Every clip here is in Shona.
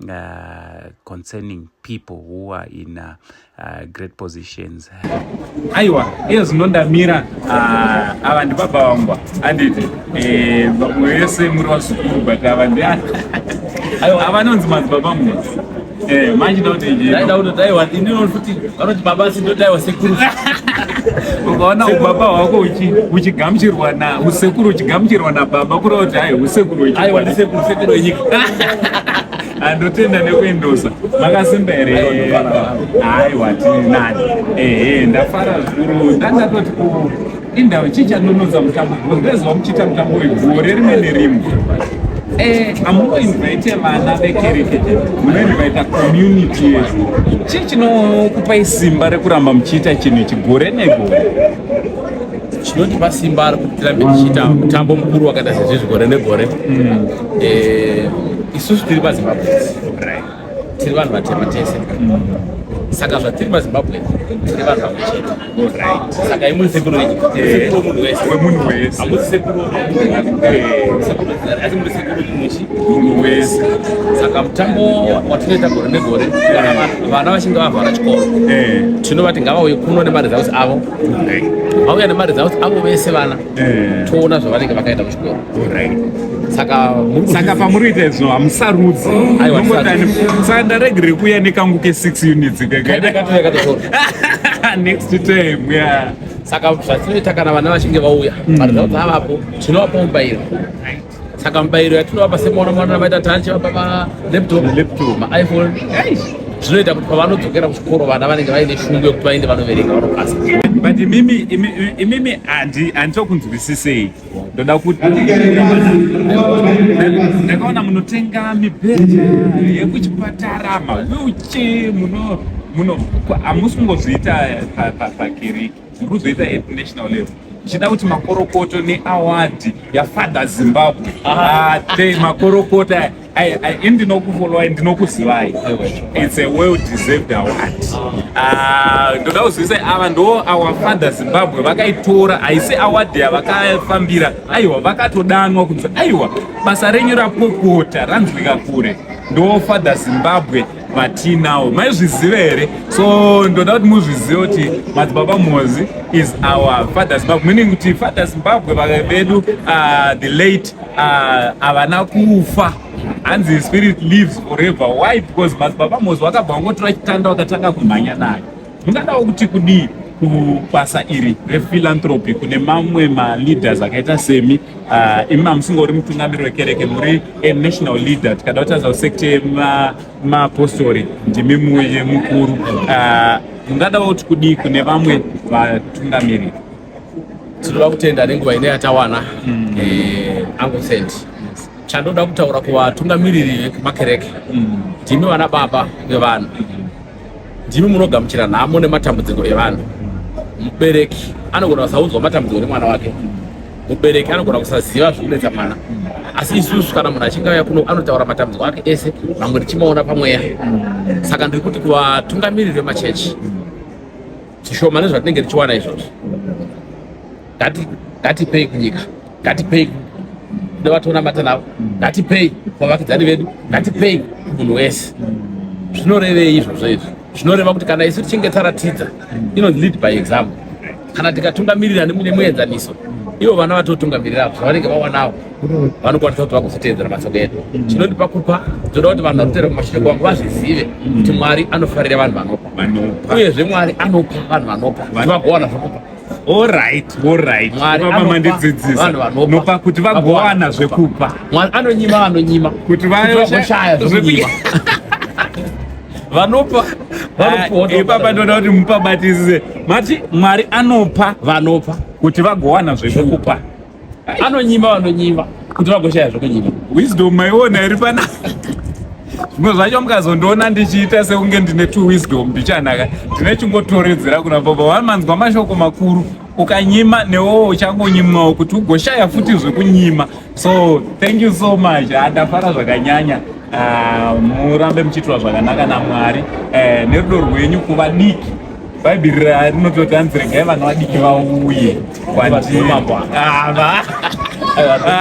Uh, concerning people who are in uh, uh, great positions aiwa iye zvinondamira uh, ava ndibaba vangwa anditi eh, vamwe vese muri vazukuru but ava ndi ava nonzi madzibaba mwa eh, manje ndauti ndauti daiwa ndinofuti vanoti baba asi ndodaiwa sekuru ukaona ubaba hwako uchigamuchirwa na usekuru uchigamuchirwa nababa kureva kuti hai usekuru wechisekuru wenyika andotenda nekuendosa makasimba here haiwa tiri nani ehe ndafara zvikuru ndandatoti Indava chii chanonodza mutambo because ndaiziva muchiita mutambo wegore rimwe nerimwe eh, amunoinvaite vana vekereke munoinvaita community yedu chii chinokupai simba rekuramba muchiita chinhu ichi gore negore chinotipa simba ari kuti tirambe tichiita mutambo mukuru wakaita sezvizvi gore negore hmm. eh, isusu tiri pazimbabwe tiri vanhu vatema tese saka zvatiri mazimbabwe tiri vanhu vamwe chete saka imuri sekuru wemunhu wese wemunhu wese hamusi sekuru asi muri sekuru muchi munhu wese saka mutambo watinoita gore negore kana vana vachinge vavhara chikoro tinovati ngavauye kuno nemari dzaus avo vauya nemari dzaus avo vese vana toona zvavanenge vakaita saka pamuri kuita izvo hamusarudzi saka ndaregere kuya nekangu ke 6 units next time yeah saka zvatinoita kana vana vachinge vauya mm. varidzaudza avapo tinovapa mubairo saka mubairo yatinovapa semwana mwana vaita tachi vapa malaptop maiphone zvinoita kuti pavanodzokera kuchikoro vana vanenge vaine shungu yekuti vaende vanoverenga vanopasa but imimi imimi handitokunzwisisei ndoda kuti ndakaona munotenga mibhedha yekuchipatara mawilche muno muno hamusi kungozviita pakiriki muri kuzoita at national level ichida kuti makorokoto neawadi yafather zimbabwe ah. ate makorokoto I, I, indinokufolowai ndinokuzivayi its a well deserved award ah, ndoda kuzivisa ava ndo our father zimbabwe vakaitora haisi award yavakafambira aiwa vakatodanwa kunzi aiwa basa renyu rapopota ranzwika kure ndo father zimbabwe vatinawo maizvizive here so ndoda kuti muzvizive kuti madzibaba mozi is our father zimbabwe meaning kuti father zimbabwe vedu uh, the late Ah, havana uh, kufa hanzi spirit lives forever why because madzibaba mozi wakabva wangotora chitanda wakatanga kumhanya nayo mungadawo kuti kudii kubasa iri rephilanthropy kune mamwe maleaders akaita semi ah, imi uh, mamusinga uri mutungamiri wekereke muri a national leader tikada kutaza kusekte mapostori ma ndimi muye mukuru uh, mungadawo kuti kudii kune vamwe vatungamiriri tinoda kutenda nenguva ine yatawana mm. eh, angu saint chandoda kutaura kuvatungamiriri vekumakereke mm. ndimi vana baba vevanhu mm. ndimi munogamuchira nhamo nematambudziko evanhu mubereki anogona kusaudzwa matambudziko nemwana wake mubereki anogona kusaziva zvikunetsa mwana asi isusu kana munhu achinge auya kuno anotaura matambudziko ake ese mamwe ndichimaona pamweya saka ndiri kuti kuvatungamiriri vemachechi zvishoma nezvatinenge tichiwana izvozvo ngatipei kunyika ngatipei kune vatonamata navo ngatipei vavakidzani vedu ngatipei munhu wese zvinorevei izvozvo izvi zvinoreva kuti kana isu tichinge taratidza inonzi lead by example kana tikatungamirira nemuenzaniso ivo vana vatotungamirira zvavanenge vawanawo vanokwanisa kuti vagozotevedzera mashoko edu chinondipa kupa toda kuti vanhu vanotevera kumashoko wangu vazvizive kuti mwari anofarira vanhu vanopa uyezve mwari anopa vanhu vanopa kuti vagowana zvokupa oraitoraitvanopa kuti vagowana zvekupa mwari anonyima vanonyima kuti vaoshaya zvekunyima vanopa ah, ipapa ndoda kuti mupabatisize mati mwari anopa vanopa kuti vagowana zvekupa anonyima vanonyima kuti vagoshaya zvokunyima wisdom maiona iri pana zvimwe zvacho mukazondiona ndichiita sekunge ndine two wisdom ndichanaka ndine chingotoredzera kuna baba wamanzwa mashoko makuru ukanyima newo uchangonyimwawo kuti ugoshaya futi zvekunyima so thank you so much andafara zvakanyanya ah, murambe muchiitwa zvakanaka namwari eh, nerudo rwenyu kuva diki bhaibheri rinototi hanzi regai vana vadiki vauye kwandiri ava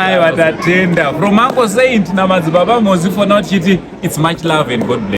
aiwa tatenda from uncle saint namadzibaba mozi fona tichiti its much love and god bless